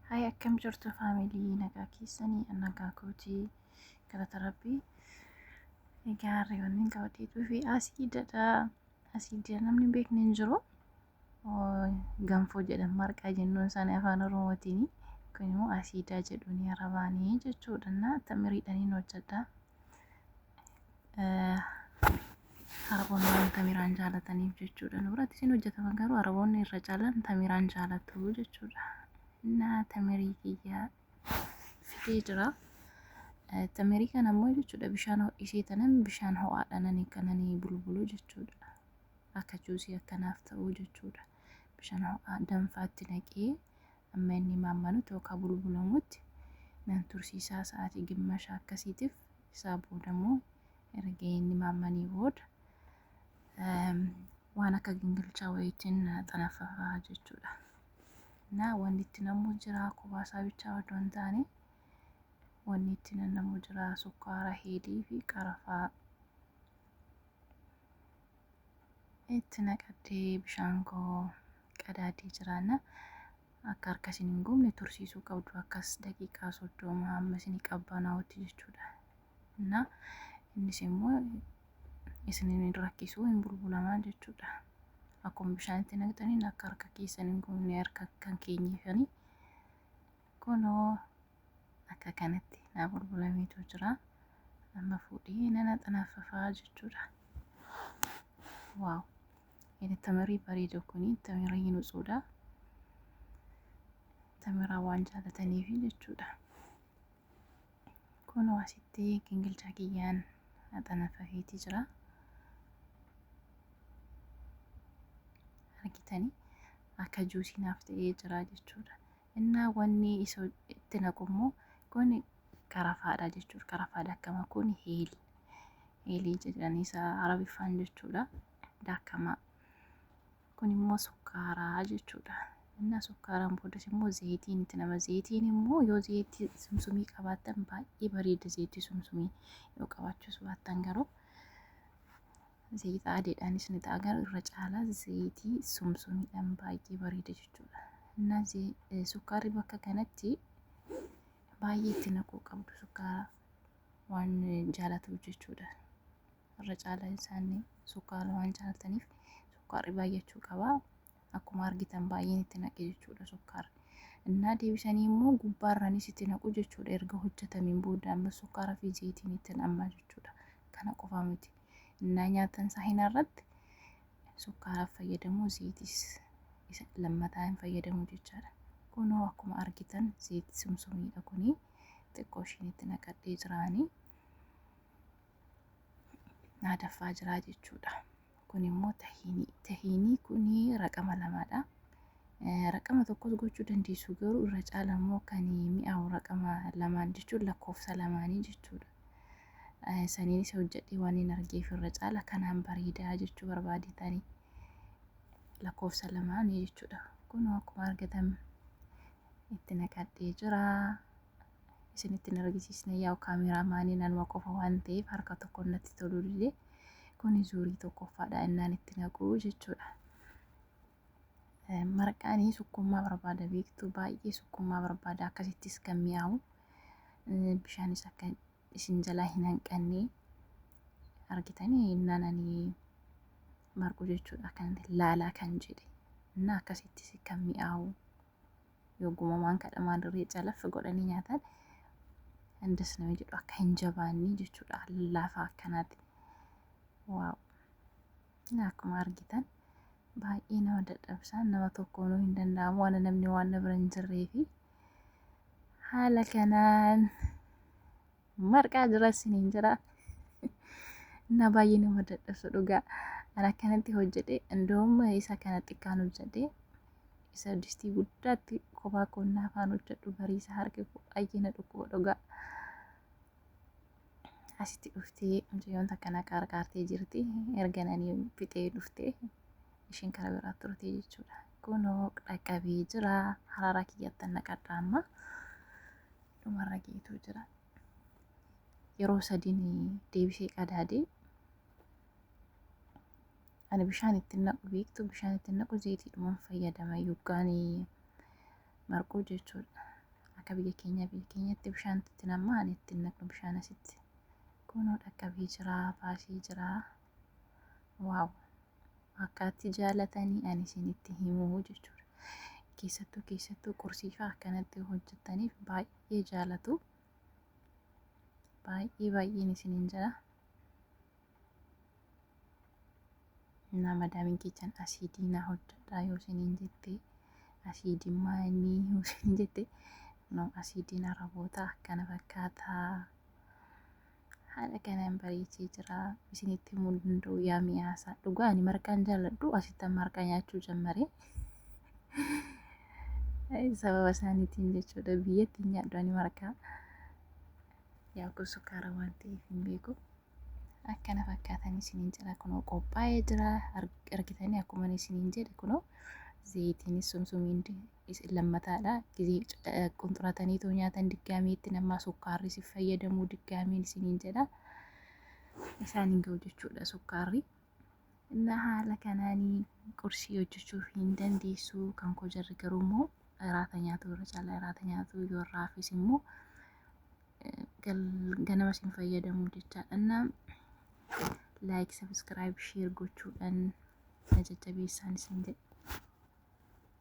Hay akkam jirtu faamilii nagaa keessanii nagaa kootii galata rabbii. Egaa harri wanneen qabatee dhufe asiidadha. Asiidii namni beekne hin jiru. Ganfoo jedhan marqaa jennuun isaanii afaan oromootiin kun immoo asiidaa jedhuun arabaanii jechuudha. Tamiriidhaan hin hojjedha. Araboonni waan tamiraan jaalataniif jechuudha. Nu biratti isin hojjetaman garuu araboonni irra caalaan tamiraan jaalatu jechuudha. Innaa tamirii kiyyaa fidee jira. Tamirii kana ammoo jechuudha bishaan ho'isee tanan bishaan ho'aadhaan ani kananii bulbulu jechuudha. Akka juusii akkanaaf ta'u jechuudha. bishaan ho'aa danfaatti naqee amma inni maammalutti yookaan bulbulamutti nan tursiisaa sa'aatii gimmasha akkasiitiif isaa booda immoo erga inni maammanii booda waan akka gingilchaa wayiitiin xanaffafaa jechuudha. Naa wanni itti namuu jira kubaasaa bichaa odoo hin taane wanni itti namuu jira sukkaara heedii fi qarafaa itti naqattee bishaan koo qadaaddee jiraanna akka harka isin hin gubne tursiisuu qabdu akkas daqiiqaa soddoma hamma isin qabbanaa'utti jechuudha. Innaa innis immoo isin hin rakkisuu hin bulbulamaa jechuudha. Akkuma bishaan itti naqxaniin akka harka keessan hin gubne harka kan keenyifanii Kunoo akka kanatti naa bulbulameetu jira. Amma fuudhee nana xanaffafaa jechuudha. Waaw! Inni tamirii bareeda kuni tamirii nutsuudha. Tamiraa waan jaalataniif jechuudha. Kunoo asitti gingilchaa kiyyaan xanaffafeeti jira. Argitanii akka juusii naaf ta'ee jira jechuudha. Innaa wanni iso itti naqu immoo kun qarafaadha jechuudha. Qarafaa daakama kun hiil. Hiilii jedhanii isa arabiffaan jechuudha. Daakamaa. Kun immoo sukkaaraa jechuudha. Innaa sukkaaraan boodas immoo zeetiin itti nama zeetiin immoo yoo zeetii sumsumii qabaattan baay'ee bareeda zeetii sumsumii yoo qabaachuus baattan garuu Zayita adiidhaanis ni ta'a garuu irra caalaa zayitii sumsumiidhaan baay'ee bareeda jechuudha. Innaa sukkaarri bakka kanatti baay'ee itti naquu qabdu sukkaara waan jaalatuuf jechuudha. Irra caalaa isaanii sukkaara waan jaalataniif sukkaarri baay'achuu qaba. Akkuma argitan baay'een itti naqe jechuudha sukkaarri. Innaa deebisanii immoo gubbaarraanis itti naqu jechuudha erga hojjetameen booda amma sukkaaraa fi zayitiin itti naqamaa jechuudha. Kana qofaa miti. innaa nyaatan saahinaa irratti sukkaara fayyadamuu zeeyitiis isa lammataa hin fayyadamuu jechaadha. Kunoo akkuma argitan zeeyiti sumsumiidha kuni xiqqoo ishiin itti naqadhee jiraanii naa daffaa jiraa jechuudha. Kun immoo tahiinii tahiinii kuni raqama lamadha. Raqama tokkos gochuu dandeessu garuu irra caala immoo kan mi'aawu raqama lamaan jechuun lakkoofsa lamaanii jechuudha. Eh, Saniinis hojjedhee waan hin argeef irra caala kanaan bareedaa jechuu barbaade tani. Lakkoofsa lamaan jechuudha. Kun akkuma argatan itti naqadhee jira. Isinitti hin argisiisne yaa'u kaameeraa maaniin anuma qofa waan ta'eef harka tokko natti tolullee kuni zuurii tokkoffaadha innaan itti naquu jechuudha. Marqaanii sukkummaa barbaada beektu baay'ee sukkummaa barbaada akkasittis kan mi'aawu bishaanis akka isin jalaa hin hanqanne argitanii innaan ani marqu jechuudha kan laalaa kan jedhe innaa akkasittis kan mi'aawu yogguma waan kadhamaan dirree calaffi godhanii nyaatan indas nama jedhu akka hin jabaannee jechuudha laafaa akkanaati. Waaw! Akkuma argitan baay'ee nama dadhabsa nama tokkoonuu hin danda'amu waan namni waan na bira hin jirreefi haala kanaan marqaa jira isiniin jira na baay'ee nama dadhabsu dhugaa an akkanatti hojjedhe indoom isa kana xiqqaan hojjedhe isa distii guddaatti kophaa koonnaa afaan hojjedhu bariisa harki koo baay'ee na dhukkuba dhugaa asitti dhuftee mucayyoon takka na qaarqaartee jirti erga nanii fixee dhuftee ishiin kara biraa turtee jechuudha kunoo dhaqqabee jira harara kiyyattan naqadha amma dhumarra geetuu jira yeroo sadiin deebisee qadaadee ani bishaan ittiin naqu beektu bishaan ittiin naqu zeetiidhuman fayyadama yoggaanii marquu jechuudha. Akka biyya keenya biyya keenyatti bishaan itti namma ani itti naqnu bishaan asitti. Kunoo dhaqqabee jira baasee jira. Waaw akka itti jaalatanii ani isinitti himuu jechuudha. Keessattuu keessattuu qursiifaa akkanatti hojjettaniif baay'ee jaalatu. Baay'ee baay'een isiniin jira. Naa madaamiin keessan asiidii naa hojjedhaa yoo isiniin jette asiidii maayinii yoo isiniin jette no asiidiin araboota akkana fakkaata. Haala kanaan bareechee jira isinitti himuu hin danda'u yaa mi'aasaa. Dhugaa ani marqaan jaalladhu asittan marqaa nyaachuu jammare. Sababa isaaniitiin jechuudha biyyatti hin nyaadhu ani marqaa. Yaa kun sukkaara waan ta'eef hin beeku. Akka kana fakkaatan isiniin jira kunoo qophaa'ee jira argitanii akkuma isiniin jedhe kunoo zayitiinis sumsumiin isin lammataadha gizee qunxuratanii too nyaatan diggaamiitti namaa sukkaarri si fayyadamuu diggaamiin isiniin jedha isaan hin ga'u jechuudha sukkaarri. Inna haala kanaani qursii hojjechuuf hin dandeessu kan koo jarri garuu immoo iraata nyaatu irra caalaa iraata nyaatu yoo irraa hafes immoo ganama isin fayyadamu jechaadhanna laayik sabiskiraayib sheer gochuudhaan na jajjabeessaan isin jedhe.